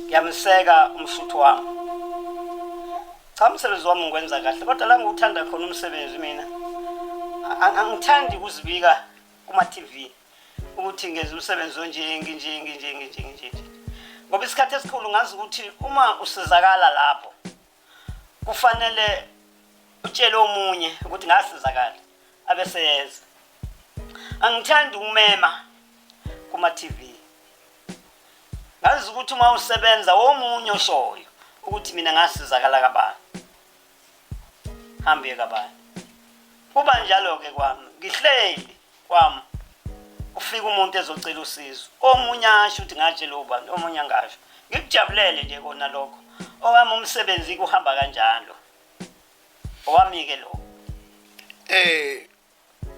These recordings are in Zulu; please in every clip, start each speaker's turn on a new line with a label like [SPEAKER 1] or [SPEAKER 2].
[SPEAKER 1] ngiyamseka umsuthu wami cha umsebenzi wami ngikwenza kahle kodwa la ngiwuthanda khona umsebenzi mina angithandi ukuzibika kuma-tv ukuthi ngenza umsebenzi onje nginje nginje nginje nginje ngoba isikhathi esikhulu ngazi ukuthi uma usizakala lapho kufanele utshele omunye ukuthi ngasizakala abeseyenza angithandi ukumema kuma TV ngazi ukuthi uma usebenza womunye oshoyo ukuthi mina ngasizakala kabani hambe kabani kuba njalo ke kwami ngihleli kwami ufika umuntu ezocela usizo omunye asho ukuthi ngatshela ubani omunye angasho ngikujabulele nje kona lokho owami umsebenzi kuhamba kanjalo owami-ke lo eh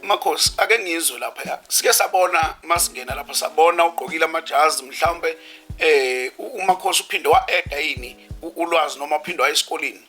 [SPEAKER 2] makhosi ake ngizwe lapha sike sabona masingena lapha sabona ugqokile amajazi mhlawumbe eh umakhosi uphinde wa-eda yini ulwazi noma uphinde wayesikoleni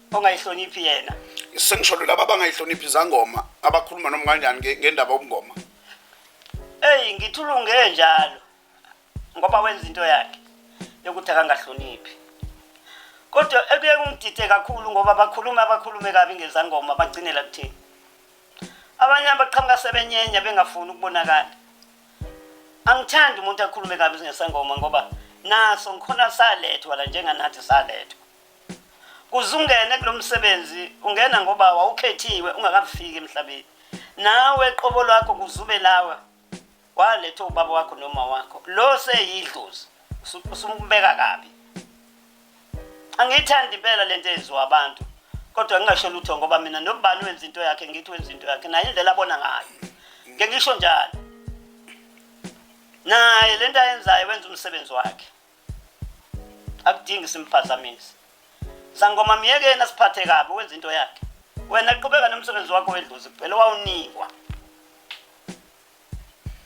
[SPEAKER 2] ongayihloniphi
[SPEAKER 1] yena sengisholo laba
[SPEAKER 2] abangayihloniphi izangoma abakhuluma noma kanjani nge- ngendaba yobungoma eyi ngithulunge
[SPEAKER 1] njalo ngoba wenza into yakhe yokuthi akangahloniphi kodwa ekuye kungidide kakhulu ngoba bakhulume abakhulume kabi ngezangoma bagcinela kuthini abanye abaqhamuka sebenyenya bengafuni ukubonakala angithandi umuntu akhulume kabi ngesangoma ngoba naso ngikhona salethwa la njenganathi salethwa Kuze ungene kulo msebenzi ungena ngoba wawukhethiwe ungakafiki emhlabeni. Nawe qobo lwakho kuzube lawa waletha ubaba wakho noma wakho. Lo seyidlozi usumbeka kabi. Angiyithandi impela lento eyenziwa abantu. Kodwa ngingasho lutho ngoba mina nobani wenza into yakhe ngithi wenza into yakhe naye indlela abona ngayo. Ngeke ngisho njalo. Naye lento ayenzayo wenza umsebenzi wakhe. akudingi simphazamisi sangoma myekeni asiphathe kabi wenza into yakhe wena qhubeka nomsebenzi wakho wedlozi kuphela wawunikwa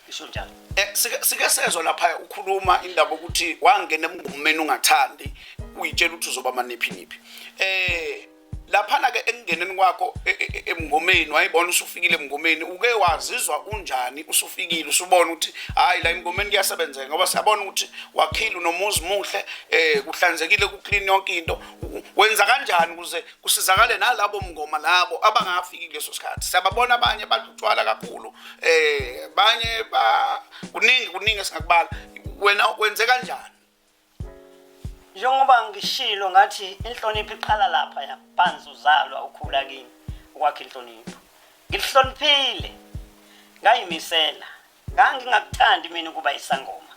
[SPEAKER 1] isho njalo eh, sike sezwa
[SPEAKER 2] lapha ukhuluma indaba ukuthi wangena emngomeni ungathandi uyitshela ukuthi uzoba maniphi niphi eh laphana ke ekungeneni kwakho e, e, e, emngomeni wayibona usufikile emngomeni uke wazizwa unjani usufikile usubona ukuthi hayi la emngomeni kuyasebenzeka ngoba siyabona ukuthi wakhile unomuzi muhle eh kuhlanzekile kuclean yonke into wenza kanjani ukuze kusizakale nalabo mngoma labo abangafiki kuleso sikhathi siyababona abanye badutshwala kakhulu eh banye ba kuningi kuningi esingakubala wena wenze kanjani njengoba
[SPEAKER 1] ngishilo ngathi inhlonipho iqala lapha ya phansi uzalwa ukhula kimi ukwakha inhlonipho ngilihloniphile ngayimisela ngangingakuthandi mina ukuba isangoma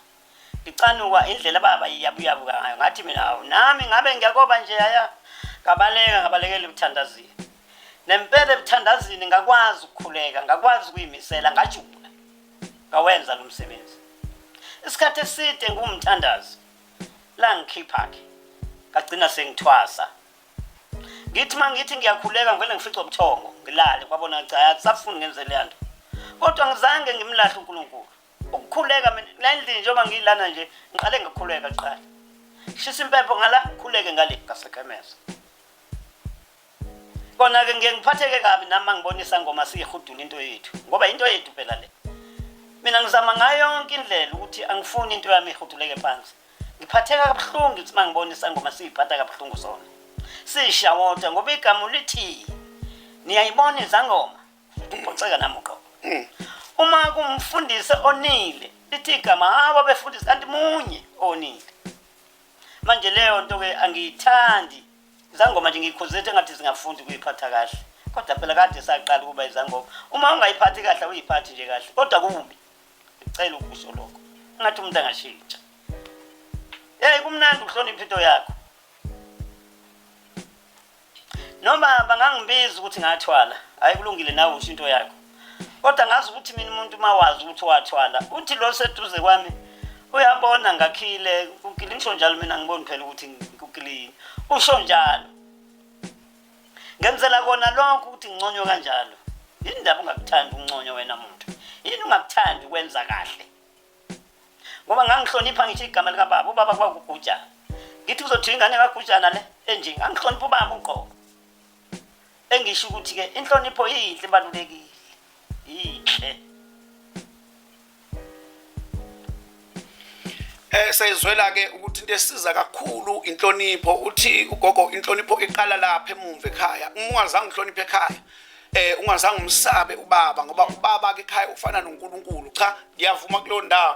[SPEAKER 1] ngicanuka indlela baba iyabuyabuka ngayo ngathi mina awu nami ngabe ngiyakoba nje yaya ngabaleka ngabalekela ukuthandazini nempela ebuthandazini ngakwazi ukukhuleka ngakwazi ukuyimisela ngajula ngawenza lo msebenzi isikhathi eside ngumthandazi la ngikhipha-ke ngagcina sengithwasa ngithi uma ngithi ngiyakhuleka ngivele ngifice ubuthongo ngilale kwabona cha akusafuni ngenze leya nto kodwa ngizange ngimlahle unkulunkulu ukukhuleka mina nendlini njengoba ngiyilana nje ngiqale ngikhuleka kuqala shisa impepho ngala ngikhuleke ngale ngasekhemesa Kona-ke ngiye ngiphatheke kabi nami uma ngibona isangoma siyihudula into yethu ngoba into yethu phela le. Mina ngizama ngayo yonke indlela ukuthi angifuni into yami ihuduleke phansi. Ngiphatheka kabuhlungu ukuthi uma ngibona isangoma siyiphatha kabuhlungu sona. Sishawota ngoba igama lithi niyayibona izangoma. Ubhoceka nami uqobo. Uma kumfundisi onile lithi igama hawu abefundisi kanti munye onile. Manje leyo nto ke angiyithandi izangoma nje ngiyikhuzethe ngathi zingafunda ukuyiphatha kahle kodwa phela kade saqala ukuba izangoma uma ungayiphathi kahle uyiphathi nje kahle kodwa kubi ngicela ukusho lokho ngathi umuntu angashintsha hey kumnandi ukuhlonipha into yakho noma bangangibiza ukuthi ngathwala hayi kulungile nawe usho into yakho kodwa ngazi ukuthi mina umuntu uma wazi ukuthi wathwala uthi lo seduze kwami uyabona ngakhile kukile ngisho njalo mina ngiboni phela ukuthi kukilini usho njalo ngenzela kona lonke ukuthi nginconywe kanjalo yini ndaba ungakuthandi ukunconywa wena muntu yini ungakuthandi ukwenza kahle ngoba ngangihlonipha ngisho igama likababa ubaba kwakugujana ngithi uzothiwa ingane kagujana le enje ngangihlonipha ubaba uqobo engisho ukuthi ke inhlonipho yinhle ibalulekile yinhle
[SPEAKER 2] eh sayizwela ke ukuthi into esiza kakhulu inhlonipho uthi ugogo inhlonipho iqala lapha emumva ekhaya uma ungazange uhloniphe ekhaya eh ungazange umsabe ubaba ngoba ubaba ke ekhaya ufana noNkulunkulu cha ngiyavuma kulondawo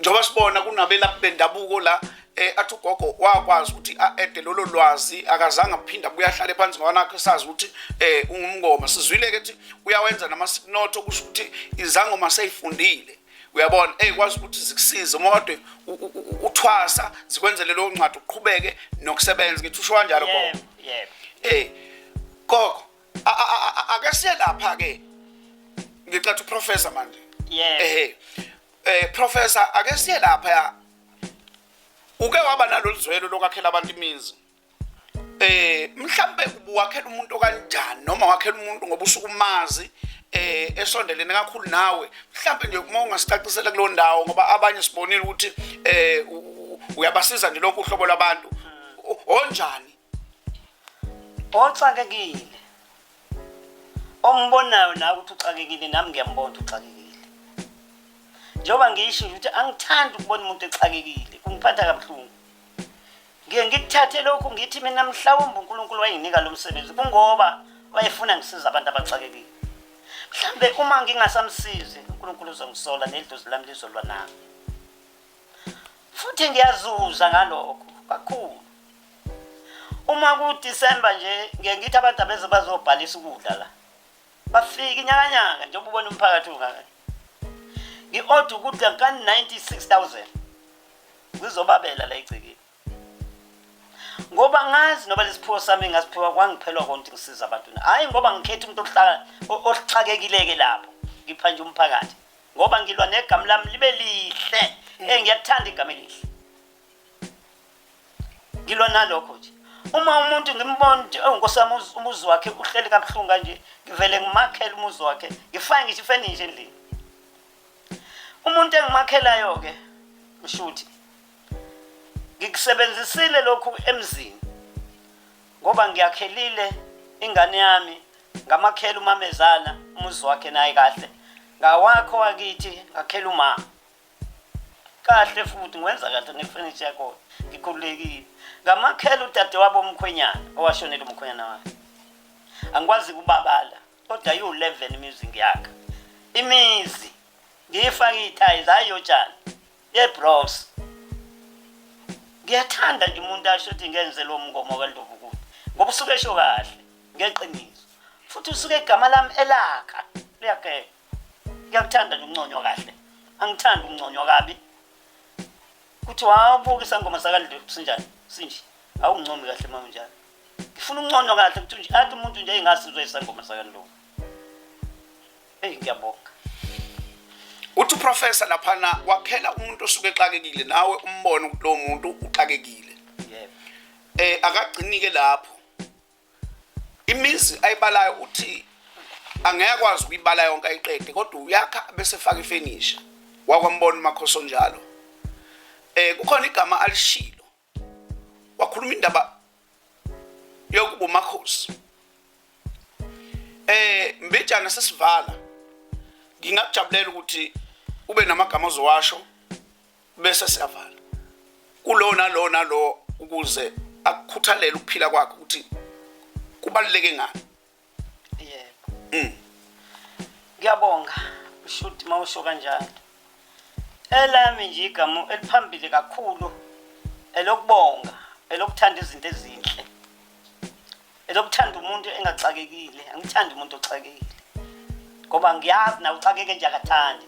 [SPEAKER 2] njengoba sibona kunabelaphi bendabuko la eh athi ugogo wakwazi ukuthi a-ede lolo lwazi akazange aphinde abuye ahlale phansi ngawanakho esazi ukuthi eh ungumngoma sizwile-ke ukuthi uyawenza namasinotho kusho ukuthi izangoma seyifundile uyabona eyikwazi ukuthi zikusize uma kodwa uthwasa zikwenzele leyo ncwadi uqhubeke nokusebenza ngithi usho kanjalo gogo yebo eh
[SPEAKER 1] gogo
[SPEAKER 2] akesiye lapha-ke ngicatha uprofessor manje yebo ehe
[SPEAKER 1] Eh
[SPEAKER 2] professor ake siye lapha uke waba nalolu zwelo lokwakhela abantu imizi eh mhlambe ubuwakhela umuntu okanjani noma wakhela umuntu ngoba usukumazi eh esondelene kakhulu nawe mhlambe nje uma ungasicacisela kulo ndawo ngoba abanye sibonile ukuthi eh uyabasiza nje lonke uhlobo labantu onjani
[SPEAKER 1] oxakekile ombonayo nawe ukuthi uxakekile nami ngiyambona ukuthi uxakekile njengoba ngisho ukuthi angithandi ukubona umuntu exakekile kungiphatha kabuhlungu ngiye ngikuthathe lokhu ngithi mina mhlawumbe unkulunkulu wayenginika lo msebenzi kungoba wayefuna ngisiza abantu abaxakekile mhlawumbe uma ngingasamsizi unkulunkulu uzongisola nedlozi lami lizolwa nami futhi ngiyazuza ngalokho kakhulu uma kuDecember nje ngeke ngithi abantu abeze bazobhalisa ukudla la bafika inyakanyaka njengoba ubona umphakathi ungaka ngi-order ukudla ka-96000 ngizobabela la egcekeni ngoba ngazi noba lesiphiwo sami ngasiphiwa kwangiphelwa konke ngisiza abantu hayi ngoba ngikhetha umuntu ohlala ohlakekileke lapho ngipha nje umphakathi ngoba ngilwa negama lami libe lihle mm. eh ngiyakuthanda igama elihle ngilwa nalokho nje uma umuntu ngimbona nje enkosi yami umuzi wakhe uhleli kabuhlungu kanje ngivele ngimakhele umuzi wakhe ngifake ngisho ifenishe endlini umuntu engimakhelayo ke mshuthi ngikusebenzisile lokhu emzini ngoba ngiyakhelile ingane yami ngamakhela umamezana umuzi wakhe naye kahle ngawakho wakithi ngakhela umama kahle futhi ngwenza kahle nefurniture yakhona ngikhululekile ngamakhela udadewabo omkhwenyana owashonela umkhwenyana wakhe angikwazi kubabala kodwa yiwu-11 imizi ngiyakha imizi ngiyifake iy'thayi zayiyotshani ye bros ngiyathanda nje umuntu asho ukuthi ngenze lo mngomo kaNdlovu kude ngoba usuke esho kahle ngeqiniso futhi usuke igama lami elakha liyageka ngiyakuthanda nje unconywa kahle angithandi ukunconywa kabi kuthi wawubuka isangoma sakaNdlovu sinjani sinje awuncomi kahle mama njalo ngifuna uncono kahle ukuthi nje athi umuntu nje engasizwe isangoma sakaNdlovu Eyi ngiyabonga.
[SPEAKER 2] Uthi uprofessor laphana wakhela umuntu osuke exakekile nawe umbone ukuthi lo muntu uxakekile.
[SPEAKER 1] Yebo. Eh akagcinike
[SPEAKER 2] lapho. Imizi ayibalayo uthi angeke kwazi ukuyibala yonke ayiqede kodwa uyakha bese faka ifenisha. Wakwambona umakhoso njalo. Eh kukhona igama alishilo wakhuluma indaba yokuba umakhosi eh mbejana sesivala ngingakujabulela ukuthi ube namagama ozowasho bese siyavala kulona lona lo ukuze akukhuthalele ukuphila kwakhe ukuthi kubaluleke ngani yebo
[SPEAKER 1] mm. ngiyabonga ushuthi uma usho kanjalo elami nje igama eliphambili kakhulu elokubonga elokuthanda izinto ezinhle elokuthanda umuntu engaxakekile angithandi umuntu oxakekile ngoba ngiyazi na uxakeke nje akathandi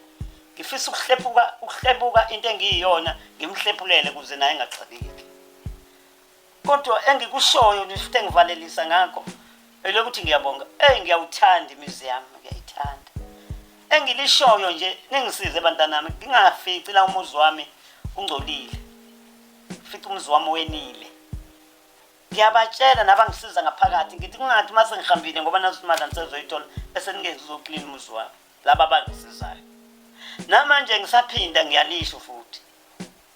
[SPEAKER 1] ngifisa ukuhlephuka ukuhlepuka into engiyiyona ngimhlephulele kuze naye engaxakeki kodwa engikushoyo nje futhi engivalelisa ngakho elokuthi ngiyabonga ey ngiyawuthanda imizi yami ngiyayithanda engilishoyo nje ningisize bantanami ngingafici la umuzi wami ungcolile fica umuzi wami wenile ngiyabatshela nabangisiza ngaphakathi ngithi kungathi uma sengihambile ngoba nazo imali angisezoyithola bese ningenzi uzoklina umuzi wami laba abangisizayo namanje ngisaphinda ngiyalisho futhi